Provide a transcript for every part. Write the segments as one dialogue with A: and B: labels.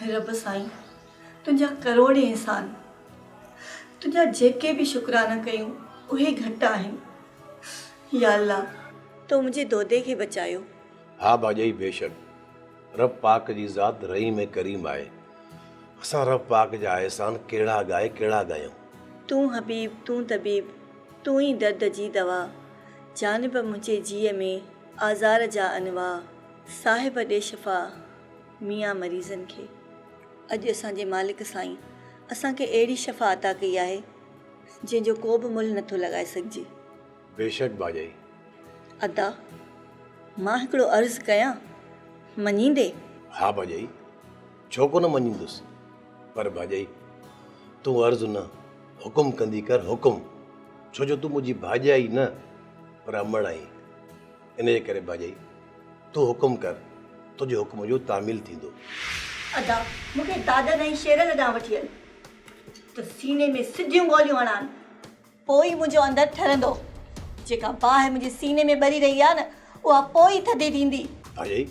A: رب
B: سائين تنهنجا ڪروڙين احسان تنهنجا جيڪي به شڪرانا ڪيون اهي گهٽ آهن يا الله تو منهنجي دودي کي بچايو. ها ڀاڄئي
C: بيشڪ رب پاڪ جي ذات رحيم ۽ ڪريم آهي. اسان رب پاڪ جا احسان ڪهڙا ڳائي ڪهڙا ڳايون. تون
B: حبيب تون طبيب تون ئي درد جي دوا جانب منهنجي جيء ۾ آزار جا انواع صاحب ڏي شفا ميان مريضن کي. اڄ اسان جي مالڪ سائين اسان کي اهڙي شفا عطا ڪئي آهي جنهن جو ڪو به ملهه نٿو لڳائي سگهجي. بيشڪ
C: ڀاڄائي. ادا
B: مان هڪڙو عرض ڪيان مڃيندي؟ ها ڀاڄائي
C: ڇو ڪونه مڃيندس پر ڀاڄائي تون عرض نه حڪم ڪندي ڪر حڪم ڇو جو تون منهنجي ڀاڄائي نه پر امڙ آهين ان جي ڪري ڀاڄائي تون حڪم ڪر تنهنجي حڪم جو تعميل ٿيندو. ادا
B: مون کي دادن ۽ شيرن ڏانهن وٺي هل ته سيني ۾ سڌيون گوليون هڻان. پوء ئي منهنجو اندر ٺرندو. جيڪا باهه منهنجي سيني ۾ ٻري رهي آهي نه، اها پوء ئي ٿڌي ٿيندي. آجائي،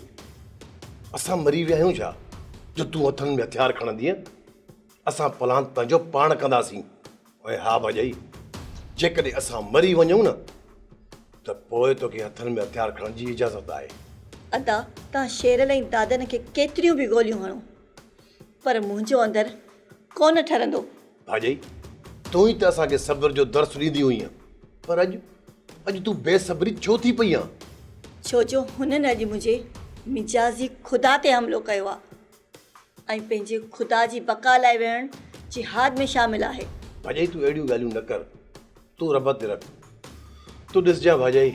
C: اسان مري ويا آهيون ڇا، جو تون هٿن ۾ هٿيار کڻندينء؟ اسان پلاند پنهنجو پاڻ ڪنداسين. ۽ ها ڀاڄائي، جيڪڏهن اسان مري وڃون نه، ته پوء توکي هٿن ۾ هٿيار کڻڻ جي اجازت آهي. ادا،
B: توهان شيرل ۽ دادن کي ڪيتريون به گوليون هڻو. پر منهنجو اندر ڪونه ٺرندو. ڀاڄئي!
C: تون ئي ته اسان کي صبر جو درس ڏيندي هئينء، پر اڄ، اڄ تون بي صبري ڇو ٿي پئي آن؟ ڇو جو
B: هنن اڄ منهنجي مجازي خدا تي حملو ڪيو آ ۽ پنهنجي خدا جي بقا لاء ويهڻ جهاد ۾ شامل آهي. ڀاڄئي تون اهڙيون
C: ڳالهيون نه ڪر، تون رب تي رک. تون ڏسجانء ڀاڄئي،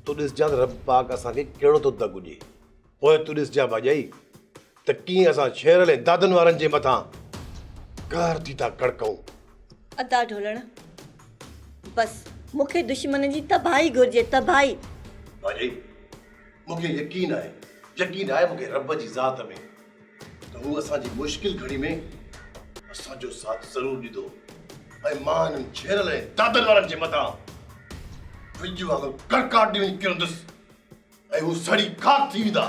C: تون ڏسجانء ته رب پاڪ اسان کي ڪهڙو ٿو دڳ ڏئي. پوء تون ڏس جا ڀاڄائي ته ڪيئن اسان شهرن ۽ دادن وارن جي مٿان قهر ٿي ٿا ڪڙڪئون. ادا
B: ڍولڻ بس مون کي دشمنن جي تباهي گهرجي تباهي. ڀاڄائي
C: مون کي يقين آهي يقين آهي مون کي رب جي ذات ۾ ته هو اسان جي مشڪل گهڙي ۾ اسان جو ساٿ ضرور ڏيندو ۽ مان انهن شهرن ۽ دادن وارن جي مٿان وڄ وانگر ڪڙڪاٽ ڏيئي وڃي ڪرندس. ۽ هو سڙي خاڪ ٿي ويندا.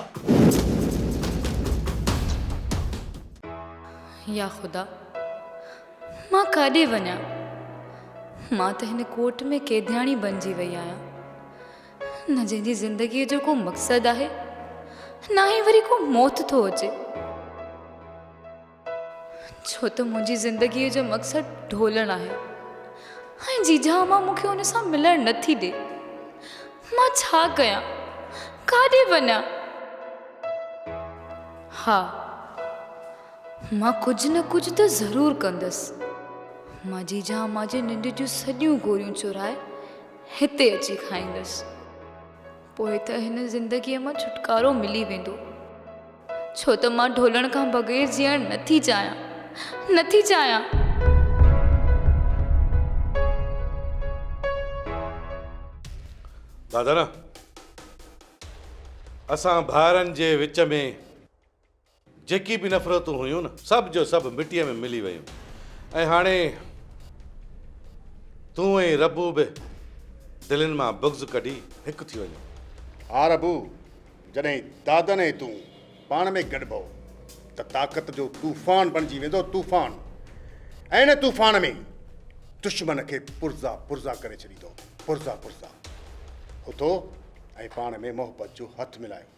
D: يا خدا! مان ڪاڏي وڃان؟ مان ته هن ڪوٽ ۾ قيدياڻي بنجي وئي آهيان. نه جنهن جي زندگيء جو ڪو مقصد آهي، نه ئي وري ڪو موت ٿو هجي. ڇو ته منهنجي زندگيء جو مقصد ڍولڻ آهي ۽ جيجا امان مون کي ان سان ملڻ نه ٿي ڏي. مان ڇا ڪيان؟ ڪاڏي وڃان؟ ها، مان ڪجهه نه ڪجهه ته ضرور ڪندس. مان جيجا امان جي ننڊ جون سڄيون گوريون چورائي هتي اچي کائيندس. پوء ته هن زندگيء مان ڇوٽڪارو ملي ويندو، ڇو ته مان ڍولڻ کان بغير جيئڻ نه ٿي چاهيان، نه ٿي چاهيان!
E: دادرا، اسان ڀائرن جي وچ ۾ جيڪي به نفرتون هيون نه سڀ جو سڀ مٽيء ۾ ملي ويون ۽ هاڻي تون ۽ ربو به دلين مان بغض ڪڍي هڪ ٿي وڃو. ها ربو،
F: جڏهن دادن ۽ تون پاڻ ۾ گڏبئو ته طاقت جو طوفان بڻجي ويندو، طوفان ۽ ان طوفان ۾ دشمن کي پرزا پرزا ڪري ڇڏيندو، پرزا پرزا. اٿو ۽ پاڻ ۾ محبت جو هٿ ملايو.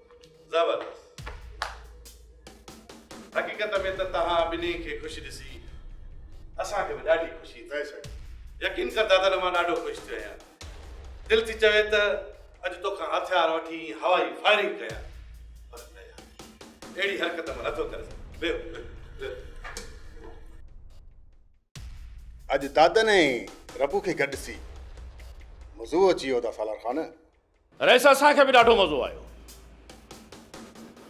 E: زبردست حقيقت ۾ ته توهان ٻنهي کي خوش ڏسي اسان کي به ڏاڍي خوشي ٿئي سگهي يقين ڪر دادا مان ڏاڍو خوش ٿيو آهيان دل ٿي چوي ته اڄ توکان هٿيار وٺي هوائي فائرنگ ڪيان پر نه يار اهڙي حرڪت مان نٿو ڪري سگهان
F: اڄ دادن ۽ ربو کي گڏ ڏسي مزو
G: اچي ويو ته
F: سالار خان
G: رئيس اسان
F: کي به ڏاڍو
G: مزو آيو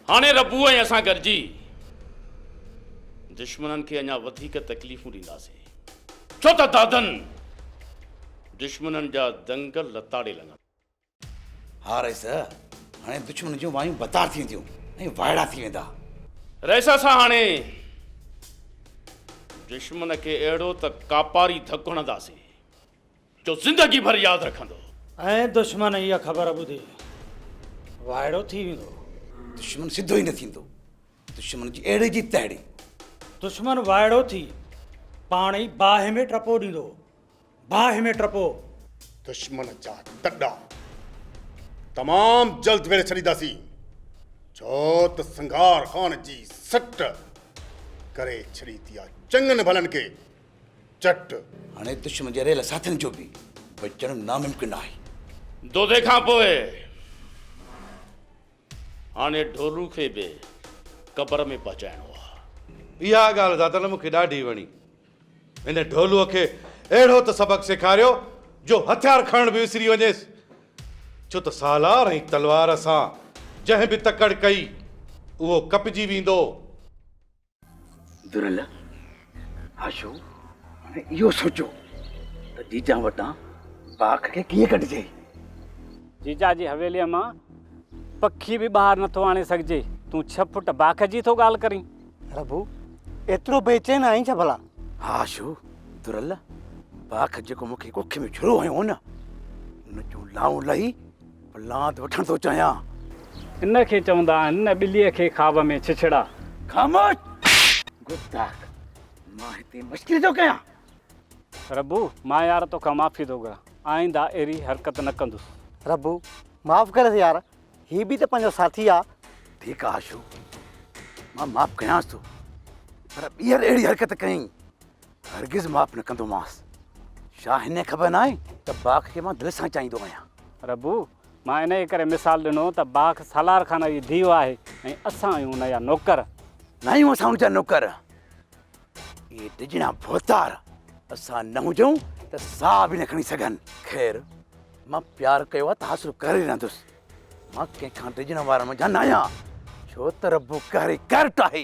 G: هاڻي ربو ۽ اسان گڏجي دشمنن کي اڃا وڌيڪ تڪليفون ڏينداسين ڇو ته دادن دشمنن جا دنگ لتاڙي لڱن. ها
H: رئيس هاڻي دشمن جون وايون بتار ٿي وينديون ۽ وائڙا ٿي ويندا. رئيس اسان
G: هاڻي دشمن کي اهڙو ته ڪاپاري ڌڪ هڻنداسين جو زندگي ڀر ياد رکندو. ۽ دشمن
I: اها خبر ٻڌي وائڙو ٿي ويندو. دشمن سڌو
H: ئي نه ٿيندو. دشمن جي اهڙي جي تهڙي. دشمن
I: وائڙو ٿي پاڻ ئي باهه ۾ ٽپو ڏيندو. باهه ۾ ٽپو. دشمن
F: جا تڏا تمام جلد ويڙهي ڇڏينداسين، ڇو ته سنگهار خان جي سٽ ڪري ڇڏي ٿي آهي چڱن ڀلن کي. چٽ. هاڻي دشمن
H: جي رهيل ساٿين جو به بچڻ ناممڪن آهي. دودي کان
G: پوء هاڻي ڍورو کي به قبر ۾ پهچائڻو آهي. اها ڳالهه زادن
E: مون کي ڏاڍي وڻي. هن ڍولوء کي اهڙو ته سبق سيکاريو جو هٿيار کڻڻ به وسري وڃيس. ڇو ته سالار ۽ تلوار سان جنهن به تڪڙ ڪئي، اهو ڪپجي ويندو.
H: دريل آشو هاڻي اهو سوچيو ته جيجا وٽان باک کي ڪيئن ڪڍجي.
J: جيجا جي حويليء مان پکي به ٻاهر نٿو آڻي سگهجي، تون ڇهه فوٽ باک جي ٿو ڳالهه ڪرين. ربو،
I: ايترو بيچين آهين ڇا ڀلا؟ ها آشو،
H: دريل باک جيڪو مون کي ڪک ۾ ڇرو هنيو هو نه، ان جون لائون لهي لات وٺڻ ٿو چاهيان. ان کي
J: چوندا آهن نه ٻليء کي خواب ۾ ڇڇڙا. خاموش!
H: گستاخ! مان هتي مشڪري ٿو ڪيان. ربو!
J: مان يار توکان معافي ٿو گهران. آئنده اهڙي حرڪت نه ڪندس. ربو! معاف
I: ڪريس يار. هي به ته پنهنجو ساٿي آ. ٺيڪ آ آشو.
H: مان معاف ڪيانس ٿو. پر ٻيهر اهڙي حرڪت ڪئين هرگز معاف نه ڪندومانس. ڇا هنکي خبر ناهي ته باک کي مان دل سان چاهيندو آهيان. ربو،
J: مان انهيء ڪري مثال ڏنو ته باک سالار خان جي ڌيء آهي ۽ اسان آهيون ان جا نوڪر. ناهيون اسان
H: ان جا نوڪر. اهي ڊڄڻا ڀوتار اسان نه هجون ته ساهه به نه کڻي سگهن. خير، مان پيار ڪيو آهي ته حاصل ڪري ئي رهندس. مان ڪنهن کان ڊڄڻ وارن منجهان نه آهيان. ڇو ته ربو قهري قهرٽ آهي.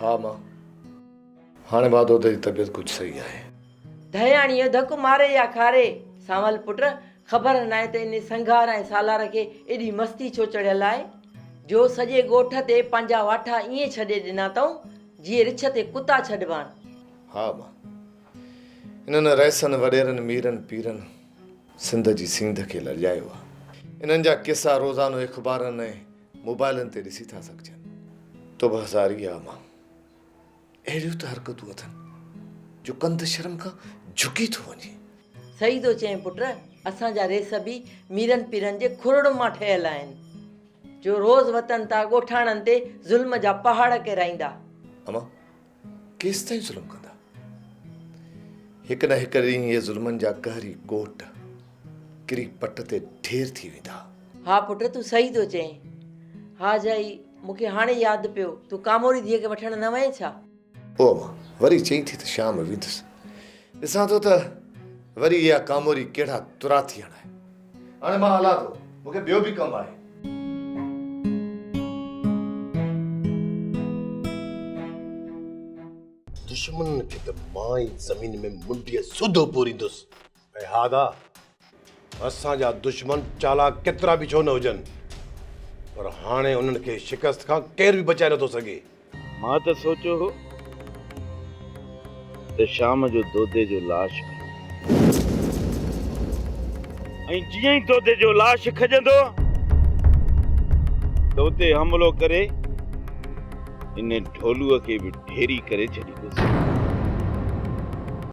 K: ها ماء، هاڻي بهادر جي طبيعت ڪجهه صحيح آهي. ڌياڻيء
L: ڌڪ ماري يا کاري، سانول پٽ، خبر ناهي ته انهي سنگهار ۽ سالار کي ايڏي مستي ڇو چڙهيل آهي، جو سڄي ڳوٺ تي پنهنجا واٺا ائين ڇڏي ڏنا اٿئون، جيئي رڇ تي ڪتا ڇڏبا آهن. ها مان
K: انهن رئيسن، وڏيرن، ميرن، پيرن سنڌ جي سينڌ کي لڄايو آهي. انهن جا قصا روزانو اخبارن ۽ موبائلن تي ڏسي ٿا سگهجن. تو به هزاري ها مان اهڙيون ته حرڪتون اٿن جو ڪنڌ شرم کان جهڪي ٿو وڃي. صحيح ٿو چئين
L: پٽ، اسان جا رئيس به ميرن پيرن جي کورڙن مان ٺهيل آهن. جو روز وتن تان ڳوٺاڻن تي ظلم جا پهاڙ ڪيرائيندا. امان
K: ڪيستائين ظلم ڪندا؟ هڪ نه هڪ ڏينهن اهي ظلمن جا قهري ڪوٽ ڪري پٽ تي ڍير ٿي ويندا. ها پٽ تون
L: صحيح ٿو چئين. ها جائي مون کي هاڻي ياد پيو تون ڪاموري ڌيء کي وٺڻ نه وئين ڇا؟ پوء مان
K: وري چئين ٿي ته شام ويندس، ڏسان ٿو ته وري اها ڪاموري ڪهڙا ترا ٿي هڻائي. هاڻي مان هلان ٿو، مون کي ٻيو به ڪم آهي.
C: دشمنن کي ته مان ئي زمين ۾ منڊيء سوڌو پوريندس. اي هادا! اسان جا دشمن چالاڪ ڪيترا به ڇو نه هجن، پر هاڻي انهن کي شڪست کان ڪير به بچائي نٿو سگهي. مان ته سوچيو
G: هو ته شام جو دودي جو لاش کڄندو ۽ جيئن ئي دودي جو لاش کڄندو ته اتي حملو ڪري ان ڍولوء کي به ڍيري ڪري ڇڏيندس.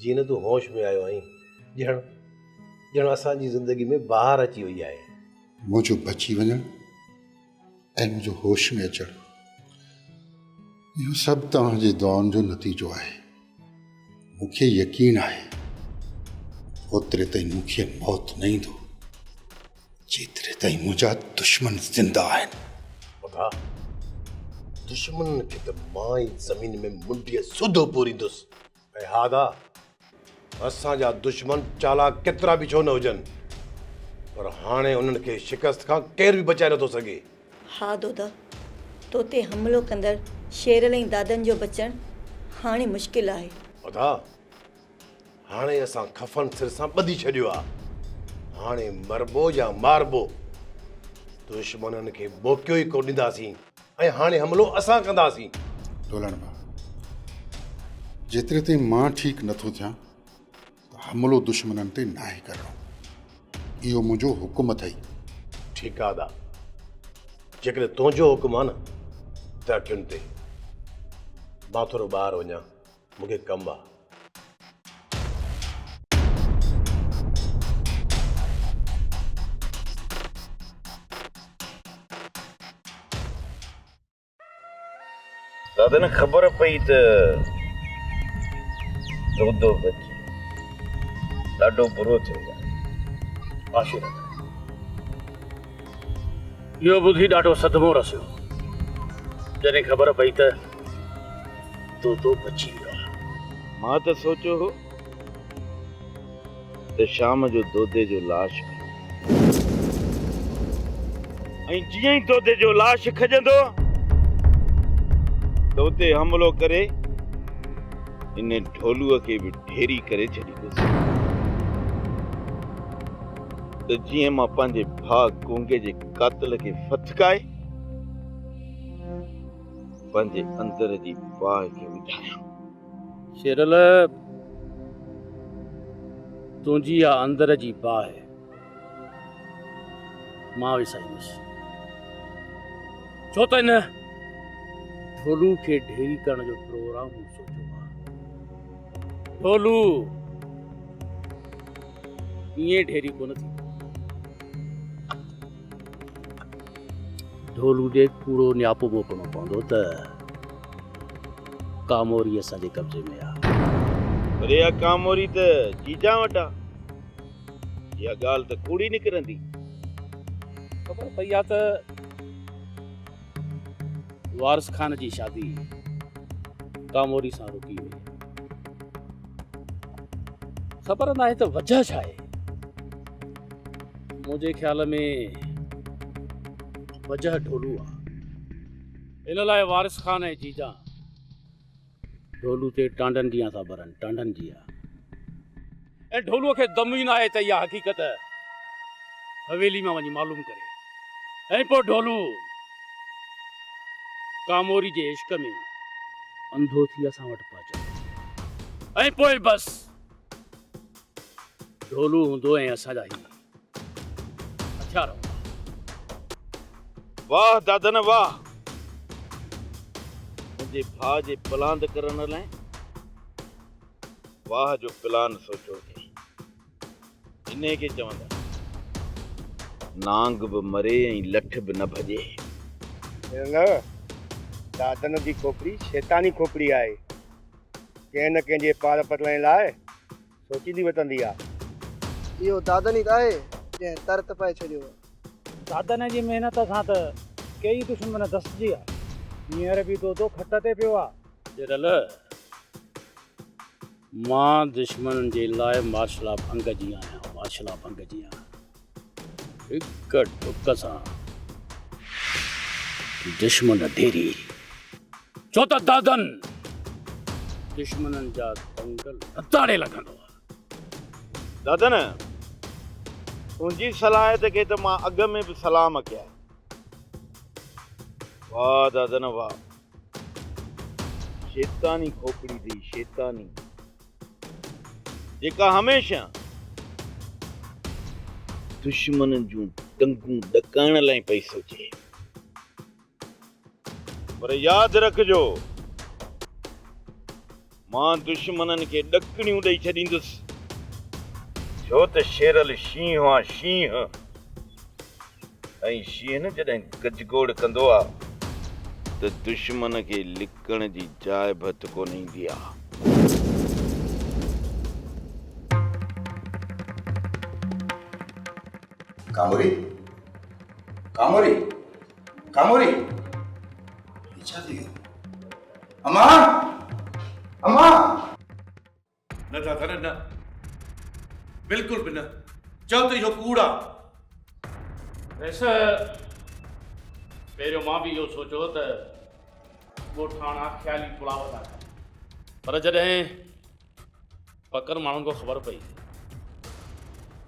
C: جيئن نه تون هوش ۾ آيو آهين. ڄڻ ڄڻ اسان جي زندگي ۾ بهار اچي وئي آهي. منهنجو بچي
F: وڃڻ ۽ منهنجو هوش ۾ اچڻ اهو سڀ توهان جي دعائن جو نتيجو آهي. مون کي يقين آهي اوتري تائين مون کي موت نه ايندو جيتري تائين منهنجا دشمن زنده آهن. وگا
C: دشمنن کي ته مان ئي زمين ۾ منڊيء سوڌو پوريندس. اي هادا! اسان جا دشمن چالاڪ ڪيترا به ڇو نه هجن، پر هاڻي انهن کي شڪست کان ڪير به بچائي نٿو سگهي. هادودا!
B: تو تي حملو ڪندڙ شيرل ۽ دادن جو بچڻ هاڻي مشڪل آهي. ادا!
C: هاڻي اسان خفن سر سان ٻڌي ڇڏيو آهي. هاڻي مربو يا ماربو. دشمنن کي موقعو ئي ڪونه ڏينداسين. ۽ هاڻي حملو اسان ڪنداسين. ڍولڻ ڀاء،
F: جيتري تائين مان ٺيڪ نه ٿو ٿيان ته حملو دشمنن تي ناهي ڪرڻو. اهو منهنجو حڪم اٿئي. ٺيڪ آ ادا،
C: جيڪڏهن تنهنجو حڪم آ نه ته اٺين تي مان ٿورو ٻاهر وڃان. مون کي ڪم آ.
G: دادن کي خبر پئي ته دودو بچي ڏاڍو برو ٿيو آهي. آشو دادا اهو ٻڌي ڏاڍو صدمو رسيو. جڏهن خبر پئي ته. طوطو پچي ويو آهي. مان ته سوچيو هو ته شام جو دودي جو لاش به ۽ جيئن ئي دودي جو لاش کڄندو ته اتي حملو ڪري ان ڍولو کي به ڍيري ڪري ڇڏيندس ته جيئن مان پنهنجي ڀاء گونگي جي قاتل کي ڦٿڪائي پنهنجي اندر جي باهه کي وجهايان. شيرل! تنهنجي اها اندر جي باهه مان وسائيندس. ڇو ته هن ڍولو کي ڍيري ڪرڻ جو پروگرام مون سوچيو آهي. ڍولو ائين ڍيري ڪونه ٿيندو. ڍول هجي ڪوڙو نياپو موڪلڻو پوندو ته ڪاموري اسان جي قبضي ۾ آ. پر اها ڪاموري ته جيجان وٽ آ. اها ڳالهه ته ڪوڙي نڪرندي. خبر پئي آ ته وارث خان جي شادي ڪاموري سان رڪي وئي. خبر ناهي ته وجهه ڇا آهي. منهنجي خيال ۾ وجهه ڍولو آهي. ان لاء وارث خان ۽ جيجان ڍولو تي ٽانڊن جيان ٿا ٻرن، ٽانڊن جيان. ۽ ڍولو کي دم ئي ناهي ته اها حقيقت حويلي مان وڃي معلوم ڪري. ۽ پوء ڍولو ڪاموري جي عشق ۾ انڌو ٿي اسان وٽ پهچندو. ۽ پوء بس ڍولو هوندو ۽ اسان جا هي. هٿيار واهه دادن واهه منهنجي ڀاء جي پلاند ڪرڻ لاء واهه جو پلان سوچو اٿئي انهي کي چوندا نانگ به مري ۽ لٺ به نه ڀڄي نه
F: دادن جي کوپڙي شيطاني کوپڙي آهي ڪنهن نه ڪنهن جي پار پرلائڻ لاء سوچيندي وتندي آ. اهو
M: دادن ئي ته آهي، جنهن تر تپائي ڇڏيو آ. دادن جي
G: محنت سان ته، ڪيئي دشمن دسجي آ. هينئر به دودو کٽ تي پيو آ. ڏرل، مان دشمنن جي لاء مارشلا ڀنگ جي آهيان، مارشلا ڀنگ جي آهيان. هڪ ٽڪ سان دشمن ڍيري ڇو ته دادن دشمنن جا دنگل هتاڙي لڳندو
N: دادن تنهنجي صلاحيت کي ته مان اڳ ۾ به سلام ڪيا واهه دادن واهه شيطاني کوپڙي ٿي شيطاني جيڪا هميشه دشمنن جون ٽنگون ڏڪائڻ لاء پئي سوچي. پر ياد رکجو مان دشمنن کي ڏڪڻيون ڏئي ڇڏيندس ڇو ته شيرل شينهن آ شينهن. ۽ شينهن جڏهن گجگوڙ ڪندو آ ته دشمن کي لڪڻ جي جاء به هٿ ڪونه ايندي آ.
H: ڪاموري! ڪاموري! ڪاموري! هي ڇا ٿي ويو؟ امان! امان!
E: نه دادا نه نه بلڪل به نه چؤ ته اهو ڪوڙ آ.
G: ويس پهريون مان به اهو سوچو ته ڳوٺاڻا خيالي پلاو ٿا ڪن پر جڏهن پڪن ماڻهن کان خبر پئي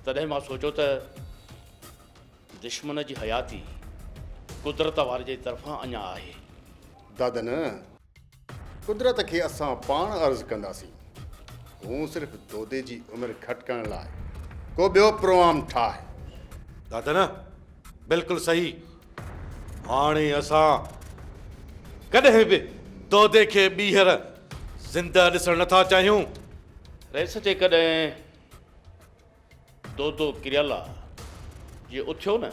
G: تڏهن مان سوچو ته دشمن جي حياتي قدرت واري جي طرفان اڃا آهي. دادا نه.
F: قدرت کي اسان پاڻ عرض ڪنداسين هون صرف دودي جي عمر گهٽ ڪرڻ لاء ڪو ٻيو پروام ٺاهه. دادا نه
E: بلڪل صحيح هاڻي اسان ڪڏهن به دودي کي ٻيهر زنده ڏسڻ نه ٿا چاهيون. رئيس
G: جيڪڏهن دودو ڪريالا جي اٿيو نه.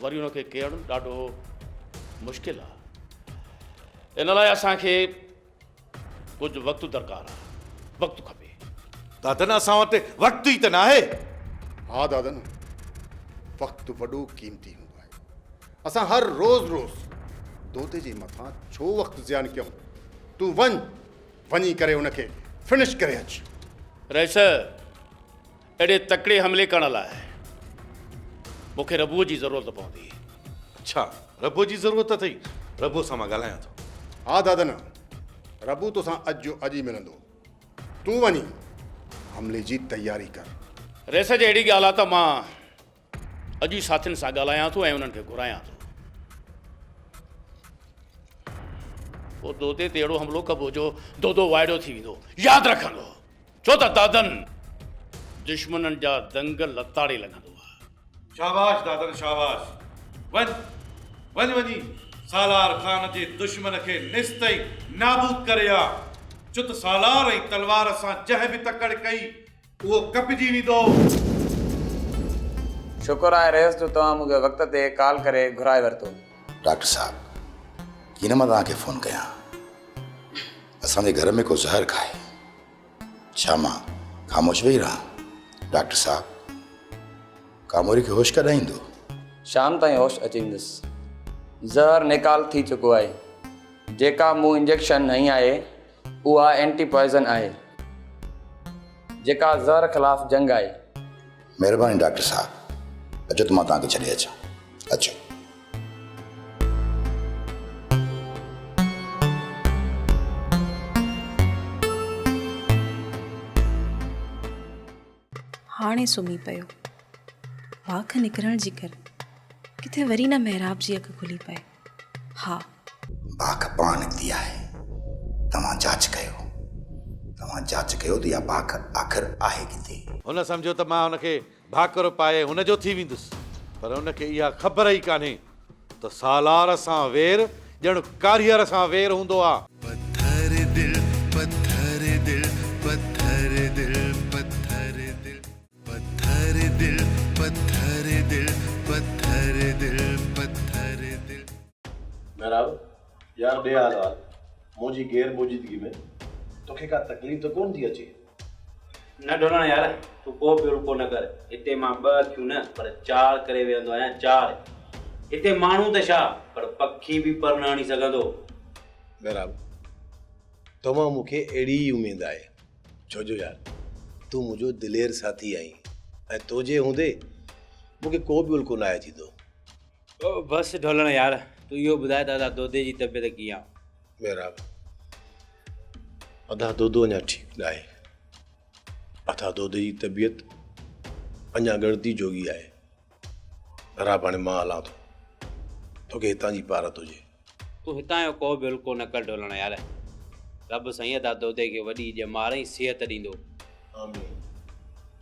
G: وري ان کي ڪيرڻ ڏاڍو مشڪل آ ان لاء اسان کي ڪجهه وقت درڪار آ وقت کپي. دادن اسان
E: وٽ وقت ئي ته ناهي. ها دادن
F: وقت وڏو قيمتي هوندو آهي اسان هر روز روز دودي جي مٿان ڇو وقت زيان ڪيون تون وڃ وڃي ڪري ان کي فنش ڪري اچ. رئيس!
G: اهڙي تڪڙي حملي ڪرڻ لاء مون کي ربوء جي ضرورت پوندي. ڇا
E: ربوء جي ضرورت اٿئي؟ ربوء سان مان ڳالهايان ٿو. ها دادنا،
F: ربو توسان اڄ جو اڄ ئي ملندو. تون وڃي حملي جي تياري ڪر. ريس جي اهڙي
G: ڳالهه آ ته مان اڄ ئي ساٿين سان ڳالهايان ٿو ۽ انهن کي گهرايان ٿو. پوء دودي تي اهڙو حملو ڪبو جو دودو وائڙو ٿي ويندو. ياد رکندو. ڇو ته دادن دشمنن جا دنگ لتاڙي لڳندو آ. شاباش
E: دادن شاباش. وڃ وڃ وڃي سالار خان جي دشمن کي نست ۽ نابود ڪري آ. چت سالار ۽ تلوار سان جنهن به تڪڙ ڪئي
O: اهو ڪپجي ويندو. شڪر آهي رئيس جو توهان مون کي وقت تي ڪال ڪري گهرائي ورتو. ڊاڪٽر صاحب
H: ڪي نه مان توهان کي فون ڪيان اسان جي گهر ۾ ڪو زهر کائي ڇا مان خاموش ويهي رهان ڊاڪٽر صاحب ڪاموري کي هوش ڪڏهن ايندو. شام تائين
O: هوش اچي ويندس زهر نيڪال ٿي چڪو آهي جيڪا مون انجيڪشن هنئي آهي اها اينٽي پوائزن آهي جيڪا زهر خلاف جنگ آهي. مهرباني
H: ڊاڪٽر صاحب اچو ته مان توهان کي ڇڏي اچان اچو.
P: هاڻي سمهي پيو. واک نڪرڻ جي ڪري ڪٿي وري نه محراب جي اک کلي پئي. ها. باک
H: پاڻ نڪتي آهي. توهان جاچ ڪيو. توهان جاچ ڪيو ته اها باک آخر آهي ڪٿي؟ هن سمجهيو ته مان
E: هن کي ڀاڪر پائي هن جو ٿي ويندس، پر هن کي اها خبر ئي ڪانهي ته سالار سان وير ڄڻ ڪاريهر سان وير هوندو آ. پٿر
A: دل پٿر دل پٿر دل پٿر دل. پٿر دل پٿر دل پٿر دل پٿر دل. مهراب،
C: يار ڏي حال وحال، مون جي غير موجودگي ۾ توکي ڪا تڪليف ته ڪونه ٿي اچي؟ نه
G: ڍولڻ يار، تون ڪو به رکو نه ڪر، هتي مان ٻه اکيون نه پر چار ڪري ويهندو آهيان، چار! هتي ماڻهو ته ڇا پر پکي به پر نه هڻي سگهندو. مهراب،
C: توهان مان مون کي اهڙي ئي اميد آهي. ڇو جو يار تون منهنجو دلير ساٿي آهين ۽ تنهنجي هوندي مون کي ڪو به الڪو ناهي ٿيندو.
G: بس ڍولڻ يار تون اهو ٻڌاء ته ادا دودي جي طبيعت ڪيئن آ؟ محراب
C: ادا دودو اڃا ٺيڪ ناهي. ادا دودي جي طبيعت اڃا ڳڻتي جوڳي آهي. راب هاڻي مان هلان ٿو. توکي هتان جي پارت هجي. تون هتان جو
G: ڪو به الڪو نه ڪر ڍولڻ يار. رب سائين ادا دودي کي وڏي ڄمار ۽ صحت ڏيندو. آمين.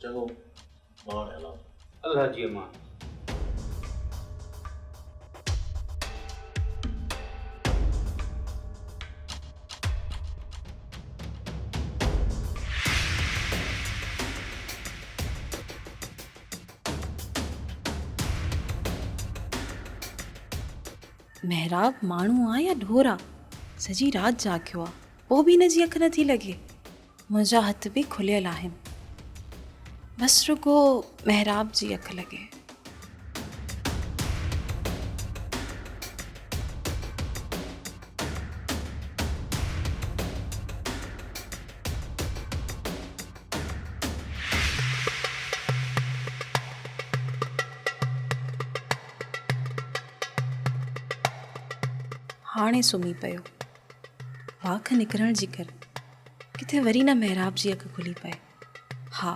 C: چڱو مان هاڻي هلان ٿو. الله جي امان.
P: محراب ماڻهو آ يا ڍور آ سڄي رات جاڳيو آ پوء به هن جي اک نه ٿي لڳي منهنجا هٿ به کليل آهن بس رڳو محراب جي اک لڳي هاڻي سمهي پيو. واک نڪرڻ جي ڪر ڪٿي وري نه محراب جي اک کلي پئي. ها!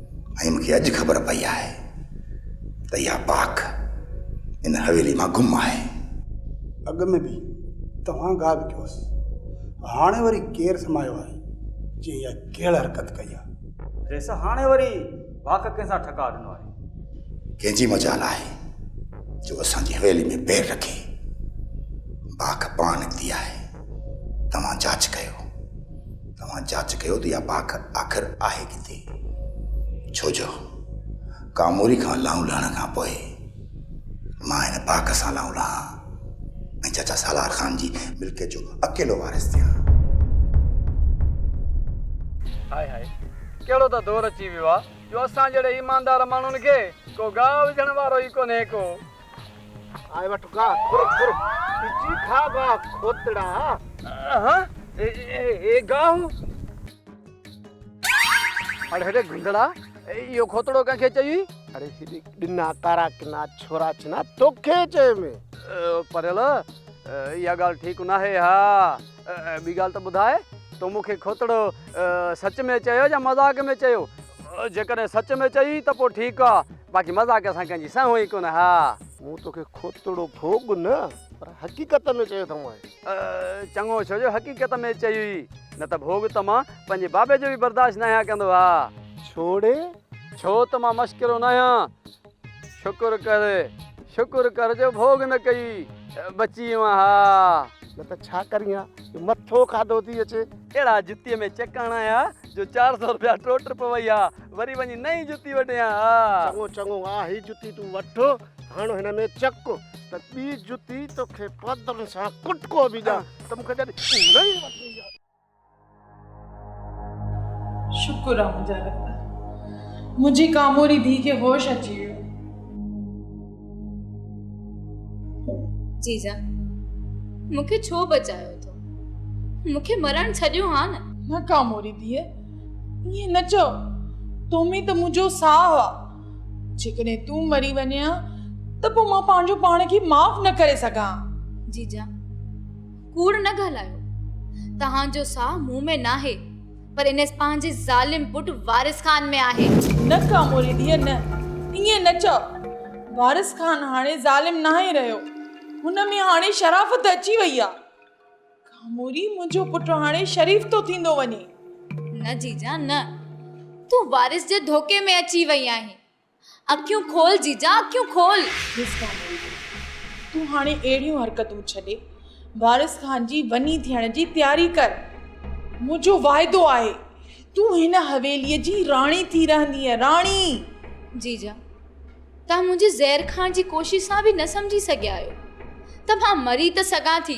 H: ۽ مون کي اڄ خبر پئي آهي ته اها پاڪ ان حويلي مان گم آهي. اڳ
Q: ۾ به توهان گاهه وڪيو هوس، هاڻي وري ڪير سمايو آهي جنهن اها ڪيڙ حرڪت ڪئي آهي؟ ريس، هاڻي وري
J: واڪ ڪنهن سان ٺڪاء ڏنو آهي؟ ڪنهن جي
H: مجال آهي جو اسان جي حويلي ۾ پير رکي؟ باک پاڻ نڪتي آهي، توهان جاچ ڪيو. توهان جاچ ڪيو ته اها پاڪ آخر آهي ڪٿي؟ ڇو جو ڪاموري کان لانهون لهڻ کان پوء مان هن پاڪ سان لانهون لهان ۽ چاچا سالار خان جي ملڪيت جو اڪيلو وارث ٿيان. هاء هاء
R: ڪهڙو ته دور اچي ويو آهي جو اسان جهڙي ايماندار ماڻهن کي ڪو گاهه وجهڻ وارو ئي ڪونهي ڪو آء
Q: وٺ گاھ کر کر پچي کاء گاھ کوتڙا
R: ها اي گاھ اڙي هيڏي گندڙا ايو کوتڙو ڪنهن کي چئي اڙي هيڏي
Q: ڏنا ڪارا ڪنا ڇورا ڇنا توکي چئي مي پريل
R: ايا ڳالھ ٺيڪ ناهي ها ٻي ڳالھ ته ٻڌاء تو مون کي کوتڙو سچ ۾ چيو يا مذاق ۾ چيو جيڪڏهن سچ ۾ چئي ته پوء ٺيڪ آ باقي مذاق سان ڪنهن جي سنهو ئي ڪونه ها. مون توکي
Q: کوتڙو ڀوڳ نه پر حقيقت ۾ چيو اٿم اهي. چڱو ڇو جو
R: حقيقت ۾ چئي هئي نه ته ڀوڳ ته مان پنهنجي بابي جو به برداشت ناهيان ڪندو ها. ڇوڙي؟
Q: ڇو
R: ته مان مشڪرو ناهيان. شڪر ڪر شڪر ڪر جو ڀوڳ نه ڪئي بچي ويان ها. نه ته ڇا ڪرين
Q: ها جو مٿو کاڌو ٿي اچي. اهڙا جتيء ۾
R: چڪ هڻايا، جو چار سؤ روپيا ٽوٽ پوي ها، وري وڃي نئين جتي وڍيان ها. چڱو چڱو آ، هي
Q: جتي تون وٺ، هڻ هن ۾ چڪ، ته ٻي جتي توکي پادرن سان ڪٽڪو به ڏيان، ته مون کي جڏهن نئين وٺڻي آ. شڪر آ منهنجا
S: رب، منهنجي ڪاموري ڌيء کي هوش اچي ويو.
D: جيجا مون کي ڇو بچايو اٿو مون کي مرڻ ڇڏيو ها نه نه ڪاموري
S: ڌيء ائين نه چئو تو ۾ ته منهنجو ساهه آ جيڪڏهن تون مري وڃين ها ته پوء مان پنهنجو پاڻ کي معاف نه ڪري سگهان جيجا
D: ڪوڙ نه ڳالهايو توهان جو ساهه مون ۾ ناهي پر انيس پنهنجي ظالم پٽ وارث خان ۾ آهي. نه ڪاموري
S: ڌيء نه، ائين نه چئو. وارث خان هاڻي ظالم ناهي رهيو. هن ۾ هاڻي شرافت اچي وئي آهي. ڪاموري منهنجو پٽ هاڻي شريف ٿو ٿيندو وڃي.
D: نه جيجا نه، تون وارث جي ڌوڪي ۾ اچي وئي آهين. اکيون کول جيجا اکيون کول. ميزبان علي تون
S: هاڻي اهڙيون حرڪتون ڇڏي وارث خان جي وني ٿيڻ جي تياري ڪر. منهنجو واعدو آهي تون هن حويليء جي راڻي ٿي رهندينء. راڻي! جيجا
D: توهان منهنجي زهر کائڻ جي ڪوشش سان به نه سمجهي سگهيا آهيو ته مان مري ته سگهان ٿي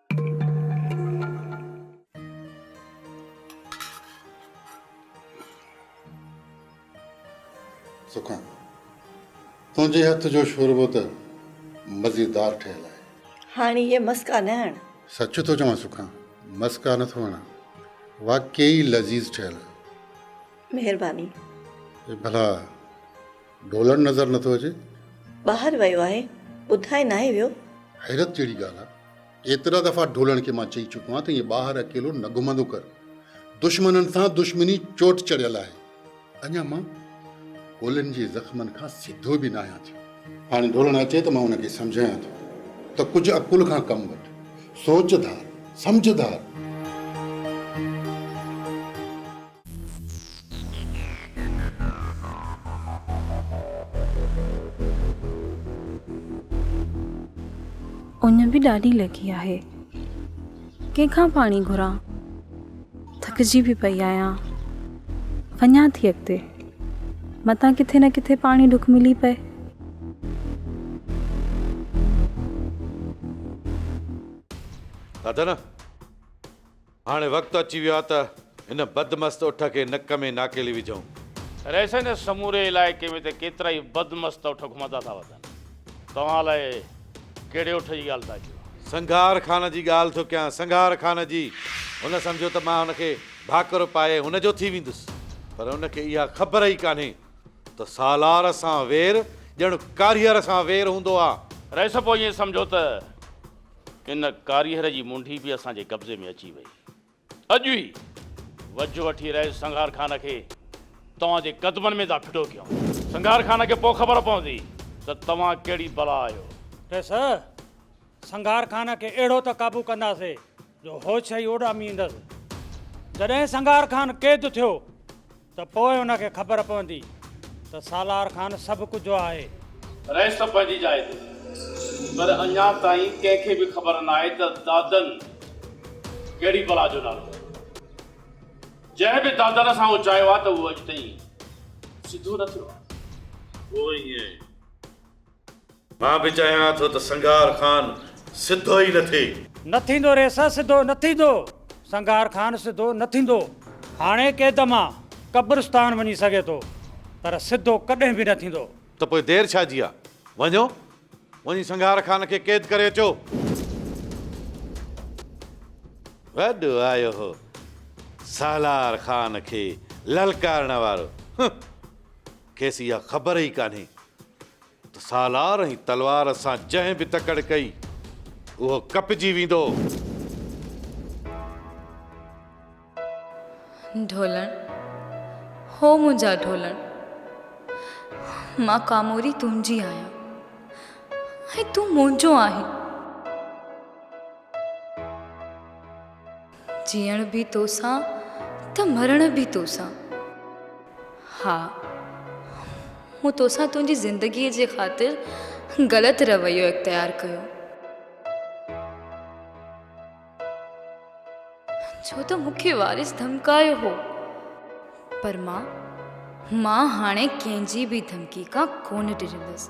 F: سکان، تنهنجي هٿ جو شوربو ته مزيدار ٺهيل آهي. هاڻي اهي مسڪا
B: نه هڻ. سچ ٿو چوان سکان،
F: مسڪا نه ٿو هڻان. واقعي لذيذ ٺهيل آهي. مهرباني.
B: اي ڀلا
F: ڍولڻ نظر نٿو اچي. ٻاهر ويو
B: آهي، ٻڌائي ناهي ويو. حيرت جهڙي ڳالهه
F: آهي. ايترا دفعا ڍولڻ کي مان چئي چڪو آهيان ته ائين ٻاهر اڪيلو نه گهمندو ڪر. دشمنن سان دشمني چوٽ چڙهيل آهي. اڃا مان گولين جي زخمن کان سڌو به ناهيان ٿيو. هاڻي ڍولڻ اچي ته مان ان کي سمجهايان ٿو ته ڪجهه عقل کان ڪم وٺ. سوچ ڌار، سمجهه ڌار.
P: اڃ به ڏاڍي لڳي آهي. ڪنهن کان پاڻي گهران؟ ٿڪجي به پئي آهيان. وڃان ٿي اڳتي. متان ڪٿي نه ڪٿي پاڻي ڍڪ ملي پئي.
E: هاڻي وقت اچي ويو آهي ته هن بدمست اٺ کي نڪ ۾ ناڪيلي وجهون. رئيسن جي
G: سموري علائقي ۾ ته ڪيترائي بدمست اٺ گهمندا ٿا وتن. توهان الاء ڪهڙي اٺ جي ڳالهه ٿا ڪيو. سنگهار خان جي
E: ڳالهه ٿو ڪيان، سنگهار خان جي. هن سمجهيو ته مان هن کي ڀاڪر پائي هن جو ٿي ويندس. پر هن کي اها خبر ئي ڪانهي ته سالار سان وير ڄڻ ڪاريهر سان وير هوندو آهي. رئيس پوء ائين سمجهيو
G: ته ان ڪاريهر جي منڍي به اسان جي قبضي ۾ اچي وئي. اڄ ئي وجهه وٺي رئيس سنگهار خان کي توهان جي قدمن ۾ ٿا ڦٽو ڪيون. سنگهار خان کي پوء خبر پوندي ته توهان ڪهڙي بلا آهيو. ڏس،
I: سنگهار خان کي اهڙو ته قابو ڪنداسي جو هوش ئي اڏاميندس. جڏهن سنگهار خان قيد ٿيو. ته پوء ان کي خبر پوندي ته سالار خان سڀ ڪجهو آهي. رهي سڀ
G: پنهنجي جاء تي پر اڃا تائين ڪنهن کي به خبر ناهي ته دادن ڪهڙي بلا جو نالو ورتو آهي. جنهن به دادن سان اچايو آهي ته اهو اڄ تائين سڌو نه ٿيو آهي. پوء ائين
E: مان به چاهيان ٿو ته سنگهار خان سڌو ئي نه ٿئي. نه ٿيندو ريسا
I: سڌو نه ٿيندو. سنگهار خان سڌو نه ٿيندو. هاڻي قيد مان قبرستان وڃي سگهي ٿو پر سڌو ڪڏهن به نه ٿيندو. ته پوء دير ڇا
E: جي آ؟ وڃو وڃي سنگهار خان کي قيد ڪري اچو. وڏو آيو هو سالار خان کي للڪارڻ وارو. هه! کيس اها خبر ئي ڪانهي ته سالار ۽ تلوار سان جنهن به تڪڙ ڪئي، اهو ڪپجي ويندو.
D: ڍولڻ، هو منهنجا ڍولڻ، مان ڪاموري تنهنجي آهيان ۽ تون منهنجو آهين. جيئڻ به توسان ته مرڻ به توسان. ها مون توسان تنهنجي زندگيء جي خاطر غلط رويو اختيار ڪيو. ڇو ته مون کي وارث ڌمڪايو هو. پر مان مان هاڻي ڪنهن جي به ڌمڪي کان ڪونه ڊڄندس.